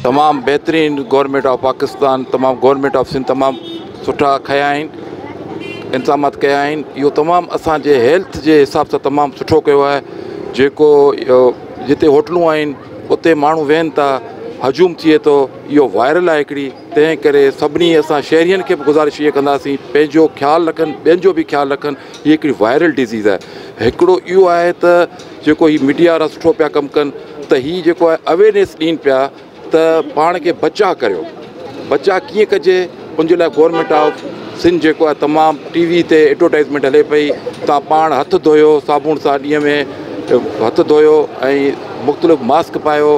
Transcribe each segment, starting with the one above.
تمام بهترين government of Pakistan تمام گورنمينٽ آف سنڌ تمام سٺا کيا آهن انتظامات ڪيا آهن اهو تمام اسان جي هيلٿ جي حساب سان تمام سٺو ڪيو آهي جيڪو جتي هوٽلون آهن اتي ماڻهو ويهن ٿا هجوم ٿئي ٿو اهو وائرل آهي هڪڙي تنهن ڪري سڀني اسان شهرين کي به گذارش اها ڪنداسين پنهنجو خيال رکن ٻين جو به خيال رکن هي هڪڙي وائرل ڊزيز آهي هڪڙو اهو آهي ته جيڪو هي ميڊيا وارا سٺو پيا ڪم ڪن ته هي جيڪو آهي اويرنيس ڏين پيا ته پاڻ کي بچا ڪريو بچا ڪيئن ڪجي ان جي لاء گورنمنٽ آف سنڌ جيڪو آهي تمام ٽي وي تي ايڊورٽائزمينٽ هلي پئي تان پاڻ هٿ ڌويو صابوڻ سان ڏينهن ۾ هٿ ڌويو ۽ مختلف ماسڪ پايو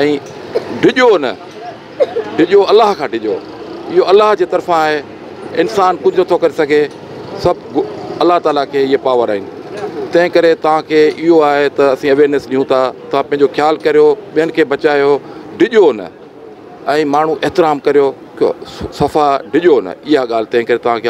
۽ ڊڄو نه ڊڄو الله کان ڊڄو اهو الله جي طرفان آهي انسان ڪجهه نٿو ڪري سگهي سڀ الله تعالي کي اهي پاور آهن تنهن ڪري توهان کي اهو آهي ته اسين اويرنيس ڏيون ٿا توهان پنهنجو خيال ڪريو ٻين کي بچايو ڊڄو نه ۽ ماڻهو احترام ڪريو صفا ڊڄو نه اها ڳالهه تنهن ڪري توهان کي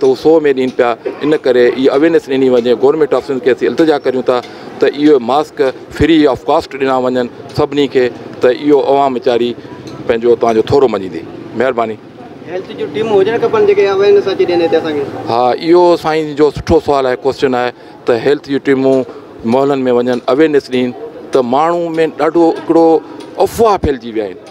ته هو سو ۾ ڏين پيا ان ڪري اهي اويرنيس ڏني وڃي گورنمينٽ آفيسن کي اسين التجا ڪريون ٿا ته اهي ماسڪ فري آف ڪاسٽ ڏنا وڃن سڀني کي ته اهو عوام ويچاري پنهنجو توهان جو ٿورو مڃيندي مهرباني. هيلٿ جون ٽيمون هجڻ کپن جيڪي اويرنيس اچي ڏين هتي اسان کي. ها اهو سائين جو سٺو سوال آهي ڪوسچن آهي ته هيلٿ جون ٽيمون محلن ۾ وڃن اويرنيس ڏين ته ماڻهو ۾ ڏاڍو هڪڙو افواهه ڦهلجي ويا آهن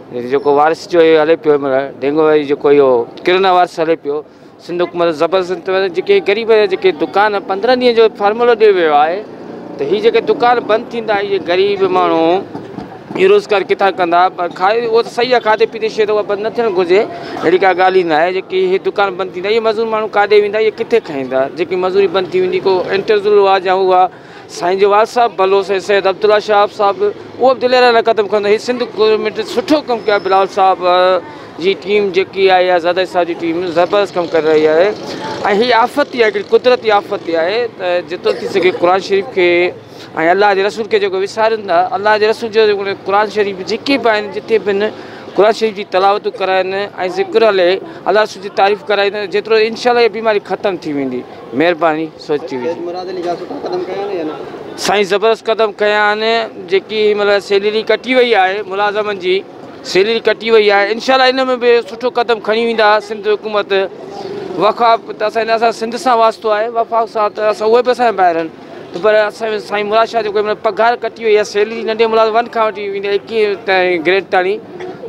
هي جيڪو وارث جو هي هلي پيو مطلب ڍينگو واري جيڪو اهو ڪرونا وارث هلي پيو سنڌ حڪومت زبردست جيڪي غريب جيڪي دڪان 15 ڏينهن جو فارمولو ڏيو ويو آهي ته هي جيڪي دڪان بند ٿيندا اهي غريب ماڻهو هي روزگار ڪٿان ڪندا پر کائي اهو ته صحيح آهي کاڌي پيتي شيء ته بند نه ٿيڻ گهرجي اهڙي ڪا ڳالهه ئي نه آهي جيڪي هي دڪان بند ٿيندا اهي مزور ماڻهو ڪاڏي ويندا اهي ڪٿي کائيندا جيڪي مزوري بند ٿي ويندي ڪو انٽرزول هئا جا هئا سائين جو وارث صاحب ڀلو سائين سيد عبدالله شهاب صاحب به اهو به دليرا لاء قدم کڻندو هي سنڌ گورنمينٽ سٺو ڪم ڪيو آهي بلاول صاحب جي ٽيم جيڪي آهي يا زرداري صاحب جي ٽيم زبردست ڪم ڪري رهي آهي ۽ هي آفت ئي آهي هڪڙي قدرتي آفت ئي آهي ته جيترو ٿي سگهي قرآن شريف کي ۽ الله جي رسول کي جيڪو وسارين ٿا الله جي رسول جو جيڪو قرآن شريف جيڪي به آهن جتي به قرآن شريف جي تلاوتون ڪرائن ۽ ذڪر هلي الله رسول جي تعريف ڪرائين جيترو انشاء الله هي بيماري ختم ٿي ويندي مهرباني سائين زبردست قدم کنيا آهن جيڪي مطلب سيلري ڪٽي وئي آهي ملازمن جي سيلري ڪٽي وئي آهي انشاءالله ان ۾ به سٺو قدم کڻي ويندا سنڌ حڪومت وفاق ته اسان اسان سنڌ سان واسطو آهي وفاق سان ته اسان اهي به اسان ٻاهر آهن ته پر اسان سائين مراد شاهه جو مطلب پگهار ڪٽي وئي آهي سيلري ننڍي ملازم ون کان وٺي ويندي ايڪيهه تائين گريڊ تائين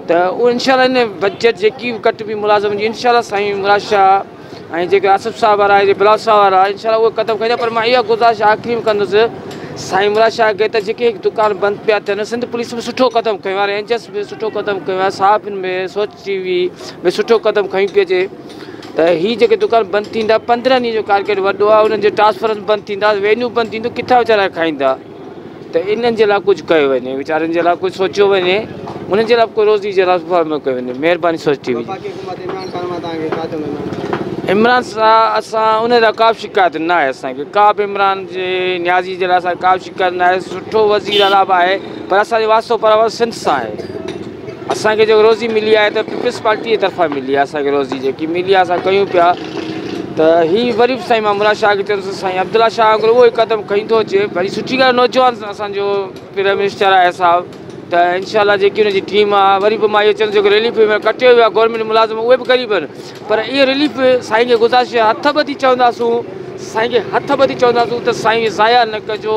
ته انشاءالله ان بجيٽ جيڪي به ڪٽ بي ملازم جي انشاءالله سائين مراد شاهه ۽ جيڪي آصف صاحب وارا آهن جي بلاول صاحب وارا آهن انشاء الله اهي قدم کڻيندا پر مان اها گذارش آخري ۾ ڪندس سائين مراد شاهه کي ته جيڪي هڪ دڪان بند پيا ٿين سنڌ پوليس ۾ سٺو قدم کنيو آهي رينجرس ۾ سٺو قدم کنيو آهي صحافين ۾ سوچ ٽي وي ۾ سٺو قدم کنيو پيو اچي ته هي جيڪي دڪان بند ٿيندا پندرهن ڏينهن جو ڪارڪيٽ وڏو آهي انهن جي ٽرانسفرنس بند ٿيندا وينيو بند ٿيندو ڪٿان ويچارا کائيندا ته انهن جي لاء ڪجهه ڪيو وڃي ويچارن جي لاء ڪجهه سوچيو وڃي انهن جي لاء ڪو روزي جي لاء فارميو ڪيو وڃي مهرباني سوچ ٽي وي عمران صاحب اسان ان لاء ڪا به شڪايت نه آهي اسانکي ڪا به عمران جي نيازي جي لاء اسانکي ڪا به شڪايت نه آهي سٺو وزير اعليٰ به آهي پر اسانجو واسطو پر سنڌ سان آهي اسان کي جيڪو روزي ملي آهي ته پيپلز پارٽي جي طرفان ملي آهي اسان کي روزي جيڪي ملي آهي اسان ڪيون پيا ته هي وري به سائين مان مراد شاهه کي چيو ته سائين عبدالله شاهه اگر اهو قدم کڻي ٿو اچي وري سٺي ڳالهه نوجوان اسان جو پرائم منسٽر آهي صاحب ته انشاء الله جيڪي ان جي ٽيم آهي وري به مان اهو چوندس جيڪو ريليف ۾ ڪٽيو ويو آهي گورنمنٽ ملازم اهي به غريب آهن پر اهو ريليف سائين کي گذارش هٿ ٻڌي چونداسون سائين کي هٿ ٻڌي چونداسون ته سائين ضايع نه ڪجو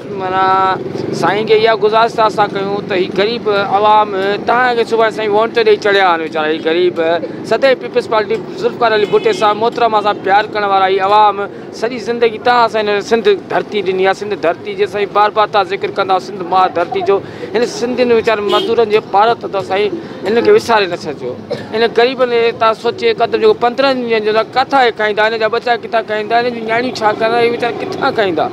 معنيٰ سائين کي اها گذارش ٿا اسان ڪيون ته هي غريب عوام تهان کي سڀاڻي سائين وونٽ تي ڏئي چڙهيا آهن ويچارا هي غريب سدائين پيپلز پارٽي ذوالفقار علي ڀٽي صاحب محترمه سان پيار ڪرڻ وارا هي عوام سڄي زندگي تهان اسان هن سنڌ ڌرتي ڏني آهي سنڌ ڌرتي جي سائين بار بار تهان ذڪر ڪندا سنڌ ماء ڌرتي جو هن سنڌين ويچارن مزدورن جي پارت اٿو سائين هن کي وساري نه ڇڏجو هن غريبن کي تهان سوچي قدم جو پندرهن ڏينهن جو ڪٿان هي کائيندا هن جا ٻچا ڪٿان کائيندا هن جون نياڻيون ڇا ڪندا هي ويچارا ڪٿان کائيندا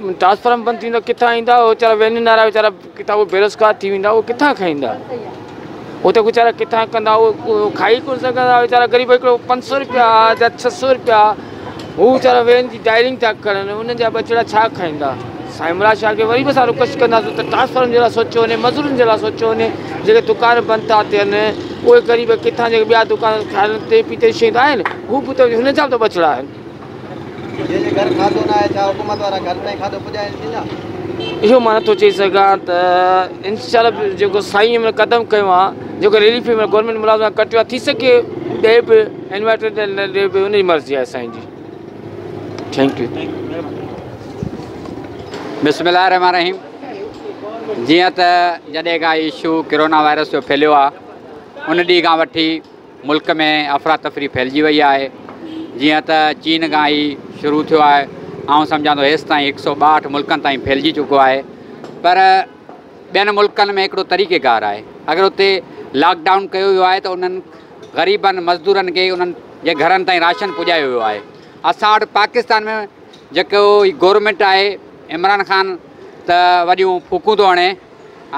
ٽرانسفارم بند ٿيندو ڪٿان ايندا اهي ويچارا وينين وارا ويچارا ڪٿان اهي بيروزگار ٿي ويندا اهي ڪٿان کائيندا هو ته ويچارا ڪٿان ڪندا اهي کائي ڪونه سگهندا ويچارا غريب هڪڙو پنج سؤ روپيا جا ڇهه سؤ روپيا هو ويچارا وين جي ڊائرنگ ٿا ڪرن انهن جا ٻچڙا ڇا کائيندا سائين مراد شاهه کي وري به اسان رڪويسٽ ڪنداسون ته ٽرانسفارم جي لاء سوچو وڃي مزورن جي لاء سوچو وڃي جيڪي دڪان بند ٿا ٿين اهي غريب ڪٿان جيڪي ٻيا دڪان کائن تي پي تي شيء آهن هو به ته هن جا به ته ٻچڙا آهن اهو مان نٿو چئي سگهان ته انشاءالله جيڪو سائين هن مهل قدم کنيو آهي جيڪو ريلي في مهل گورنمينٽ ملازمن کان ڪٽيو آهي ٿي سگهي ڏئي به انورٽر ڏئي نه ڏئي به ان جي مرضي آهي سائين جي ٿينڪ يو بسم الله الرحمن الرحيم جيئن ته جڏهن کان ايشو ڪرونا وائرس جو ڦهليو آهي ان ڏينهن کان وٺي ملڪ ۾ افراتفري ڦهلجي وئي آهي، جيئن ته چين کان هي شروع ٿيو آهي، آئون سمجهان ٿو هيس تائين هڪ سئو ٻاهٺ ملڪن تائين ڦهلجي چڪو آهي، پر ٻين ملڪن ۾ هڪڙو طريقيڪار آهي، اگر اتي لاڪ ڊائون ڪيو ويو آهي ته انهن غريبن مزدورن کي انهن جي گهرن تائين راشن پڄايو ويو آهي، اسان وٽ پاڪستان ۾ جيڪو هي گورنمينٽ آهي عمران خان ته وڏيون ڦوڪون ٿو هڻي.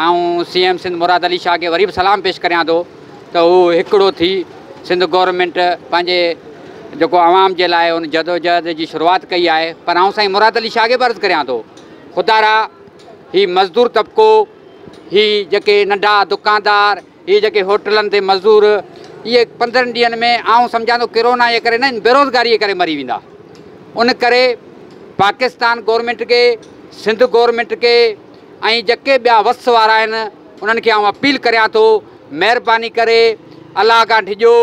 آئون سي ايم سنڌ مراد علي شاهه کي وري به سلام پيش ڪريان ٿو ته هو هڪڙو ٿي سنڌ گورنمينٽ پنهنجي جيڪو عوام جي لاء ان جدوجهد جي شروعات ڪئي آهي پر آئون سائين مراد علي شاهه کي به عرض ڪريان ٿو خدارا هي مزدور طبقو هي جيڪي ننڍا دڪاندار هي جيڪي هوٽلن تي مزدور اهي پندرهن ڏينهن ۾ آئون سمجهان ٿو ڪرونا جي ڪري نه ان بيروزگاري جي ڪري مري ويندا ان ڪري پاڪستان گورنمينٽ کي سنڌ گورنمينٽ کي ۽ جيڪي ٻيا وس وارا آهن انهن کي آئون اپيل ڪريان ٿو مهرباني ڪري الله کان ڊڄو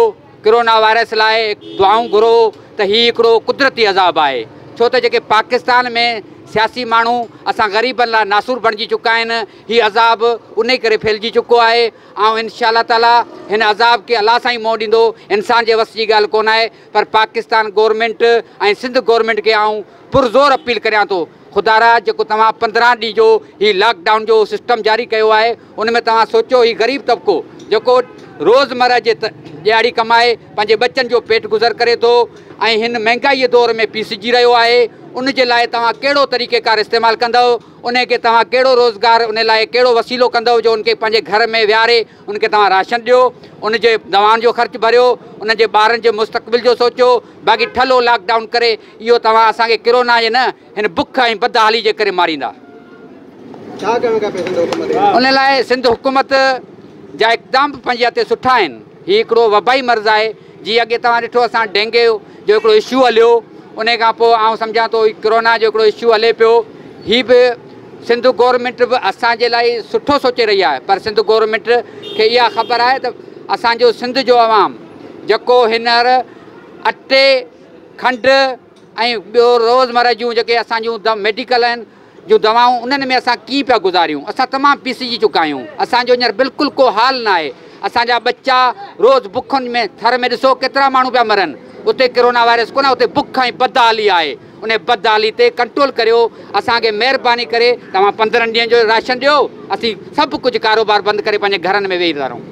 ڪرونا وائرس لاء دعائون گهرو ته هي هڪڙو قدرتي عذاب آهي ڇو ته جيڪي پاڪستان ۾ سياسي ماڻهو اسان غريبن لاء ناسور بڻجي چڪا آهن هي عذاب انهي ڪري ڦهلجي چڪو آهي. آئون انشاء الله تعالٰي هن عذاب کي الله سان ئي منهن ڏيندو انسان جي وس جي ڳالهه ڪونه آهي پر پاڪستان گورنمينٽ ۽ سنڌ گورنمينٽ کي آئون پر زور اپيل ڪريان ٿو خدارا جيڪو توهان پندرهن ڏينهن جو هي لاڪ ڊائون جو سسٽم جاري ڪيو آهي ان ۾ توهان سوچو هي غريب طبقو جيڪو روزمره جي ڏهاڙي ڪمائي پنهنجي ٻچن جو پيٽ گذر ڪري ٿو ۽ هن مهنگائي دور ۾ پيسجي رهيو آهي ان جي لاء توهان ڪهڙو طريقيڪار استعمال ڪندؤ انهي کي توهان ڪهڙو روزگار انهي لاء ڪهڙو وسيلو ڪندؤ جو ان کي پنهنجي گهر ۾ ويهاري ان کي توهان راشن ڏيو ان جي دوائن جو خرچ ڀريو انهن جي ٻارن جي مستقبل جو سوچو باقي ٺلهو لاڪ ڊائون ڪري اهو توهان اسان کي ڪرونا جي نه هن بک ۽ بدحالي جي ڪري ماريندا ان لاء سنڌ حڪومت جا اقدام به پنهنجي هٿ تي سٺا آهن. هي هڪڙو وبائي مرض آهي جي اڳي توهان ڏٺو اسان ڊينگي جو هڪڙو اشو هليو انهي کان پوء آئون سمجهان ٿو هي ڪرونا جو هڪڙو اشو هلي پيو هي به سنڌ گورنمينٽ به اسان جي لاء سٺو سوچي رهي آهي پر سنڌ گورنمينٽ کي اها خبر آهي ته اسان جو سنڌ جو عوام جيڪو هينئر اٽي کنڊ ۽ ٻيو روزمره جون جيڪي اسان جون ميڊيڪل آهن جون دوائون انهن ۾ اسان ڪيئن پيا گذاريون اسان تمام پيسجي چڪا آهيون اسان جو هينئر بلڪل ڪو حال نه آهي اسان جا ٻچا روز بکن ۾ ٿر ۾ ڏسو ڪيترا ماڻهو پيا مرن اتي ڪرونا وائرس ڪونه اتي بک ۽ بدحالي آهي انهي بدحالي تي ڪنٽرول ڪريو اسان کي مهرباني ڪري توهان پندرهن ڏينهن جو راشن ڏيو اسين سڀ ڪجهه ڪاروبار بند ڪري پنهنجي گهرن ۾ ويهي ٿا رهون.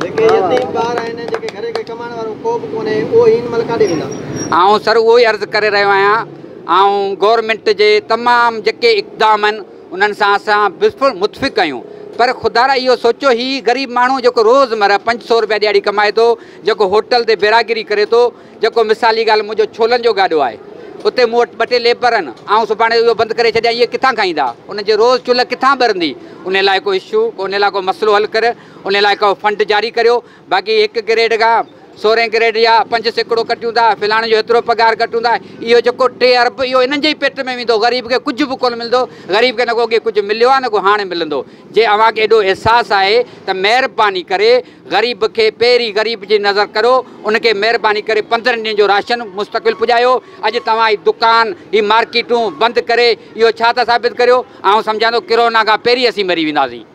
جيڪي يتيم ٻار آهن ۽ جيڪي گهر کي ڪمائڻ وارو ڪو به ڪونهي اهي هن مهل ڪاڏي ويندا؟ آئون سر اهو ئي عرض ڪري رهيو آهيان. آئون گورنمينٽ جي تمام جيڪي اقدام آهن انهن سان اسان بالڪل متفق آهيون پر خدارا اهو سوچو هي غريب ماڻهو جيڪو روز مره پنج سو روپيا ڏهاڙي ڪمائي ٿو جيڪو هوٽل تي بيراگري ڪري ٿو جيڪو مثالي ڳالهه منهنجو ڇولن جو گاڏو آهي اتي مون وٽ ٻه ٽي ليبر آهن آئون سڀاڻي اهو بند ڪري ڇڏيان اهي ڪٿان کائيندا انهن جي روز چلهه ڪٿان ٻرندي ان لاء ڪو اشو ان لاء ڪو مسئلو حل ڪر ان لاء ڪو فنڊ جاري ڪريو باقي هڪ گريڊ کان سورهين گريڊ يا پنج سيڪڙو ڪٽيون ٿا، فلاڻي جو هيترو پگهار ڪٽيون ٿا، اهو جيڪو ٽي ارب اهو انهن جي ئي پيٽ ۾ ويندو، غريب کي ڪجهه به ڪونه ملندو، غريب کي نه ڪو اڳي ڪجهه مليو آهي نه ڪو هاڻي ملندو، جي اوهان کي ايڏو احساس آهي ته مهرباني ڪري غريب کي پهرين غريب جي نظر ڪريو، ان کي مهرباني ڪري پندرهن ڏينهن جو راشن مستقبل پڄايو، اڄ توهان هي دڪان هي مارڪيٽون بند ڪري اهو ڇا ٿا ثابت ڪريو، آئون سمجهان ٿو ڪرونا کان پهرين اسين مري وينداسين.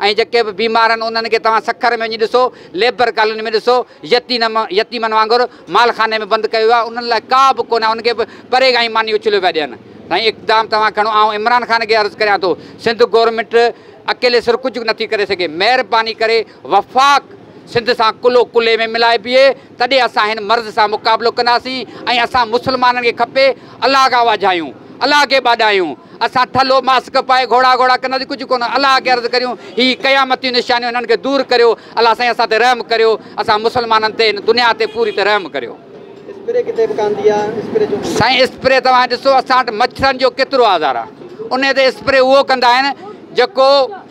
۽ جيڪي به بيمار آهن انهن کي توهان سکر ۾ وڃي ڏسو، ليبر ڪالوني ۾ ڏسو، يتيمن وانگر مال خاني ۾ بند ڪيو ويو آهي، انهن لاء ڪا به ڪونه آهي، انهن کي به پري کان ئي ماني اڇليو پيا ڏين. سائين اقدام توهان کڻو آئون عمران خان کي عرض ڪريان ٿو سنڌ گورنمينٽ اڪيلي سر ڪجهه نٿي ڪري سگهي مهرباني ڪري وفاق سنڌ سان ڪلهو ڪلهي ۾ ملائي بيهي تڏهن اسان هن مرض سان مقابلو ڪنداسين ۽ اسان مسلمانن کي کپي الله کان واجهايون، الله کي ٻاڏايون، اسان ٿلهو ماسڪ پائي گهوڙا گهوڙا ڪنداسين ڪجهه ڪونه الله کي عرض ڪريون هي قيامتيون نشانيون هنن کي دور ڪريو الله سائين اسان تي رحم ڪريو اسان مسلمانن تي هن دنيا تي پوري تي رحم ڪريو. اسپري ڪٿي وڪاندي آ اسپري جو ڪم. سائين اسپري توهان ڏسو اسان وٽ مڇرن جو ڪيترو آزار آ انهي تي اسپري اهو ڪندا آهن جيڪو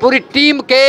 پوري ٽيم کي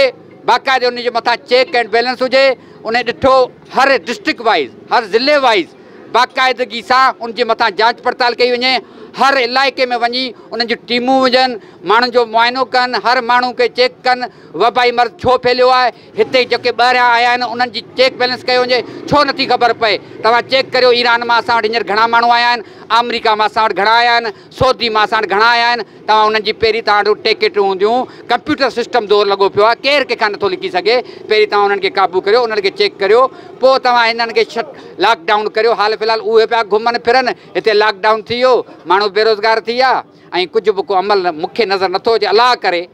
باقاعدي انهن جي مٿان چيڪ اينڊ بيلنس هجي انهن ڏٺو هر ڊسٽرڪٽ وائيز هر ضلعي وائيز باقاعدگي سان ان جي مٿان جانچ پڙتال ڪئي وڃي هر علائقي ۾ وڃي انهن جون ٽيمون وجهن ماڻهن جو معائنو ڪن هر ماڻهو کي چيڪ ڪن وبائي مرض ڇو ڦهليو آهي هتي جيڪي ٻاهريان آيا آهن انهن جي چيڪ بيلنس ڪيو وڃي ڇو نٿي خبر پئي توهان چيڪ ڪريو ايران مان اسان وٽ هينئر گهڻا ماڻهو آيا آهن آمريڪا مان اسان وٽ گهڻا آيا آهن سعودي مان ساڻ گهڻا آيا آهن توهان انهن جي پهرين توهان وٽ ٽيڪيٽون هونديون ڪمپيوٽر سسٽم زور لڳو پيو آهي ڪير ڪنهن کان نٿو لڪي سگهي پهرين توهان انهن کي قابو ڪريو انهن کي چيڪ ڪريو پوء توهان هنن کي شٽ لاڪ ڊائون ڪريو حال في الحال اهي پيا گهمن ڦرن هتي لاڪ ڊائون ٿي ويو ماڻهو بيروزگار ٿي ويا ۽ ڪجهه به ڪو عمل مون کي نظر نٿو اچي الله ڪري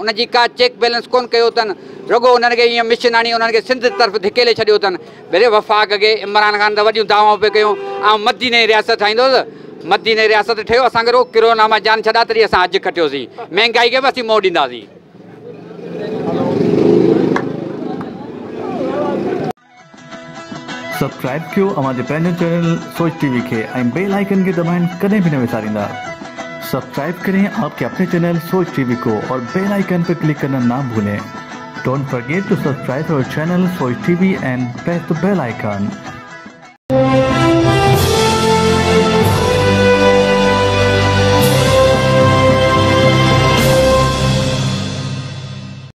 ان جي ڪا چيڪ بيلنس ڪونه ڪيو اٿن، رڳو انهن کي ايئن مشن هڻي انهن کي سنڌ طرف ڌڪيلي ڇڏيو اٿن. ڀلي وفاق کي عمران خان ته وڏيون دعوائون پئي ڪيون آئون مديني جي رياست ٺاهيندوس، مديني رياست ٺهيو اسان کي رڳو ڪرونا مان جان ڇڏا تڏهن اسان حج کٽيوسين، مهنگائي کي به اسين منهن ڏينداسين. سبسڪرائب ڪيو اوهان جي پنهنجي چينل سوچ ٽي وي کي ۽ بيل آئيڪن کي دٻائڻ ڪڏهن به نه وساريندا سبسڪرائب ڪرين آپ ڪي اپني چينل سوچ ٽي وي ڪو اور بيل آئيڪن پي ڪلڪ ڪرنا نا ڀولين ڊونٽ فرگيٽ ٽو سبسڪرائب اور channel Soch T V and press the bell icon.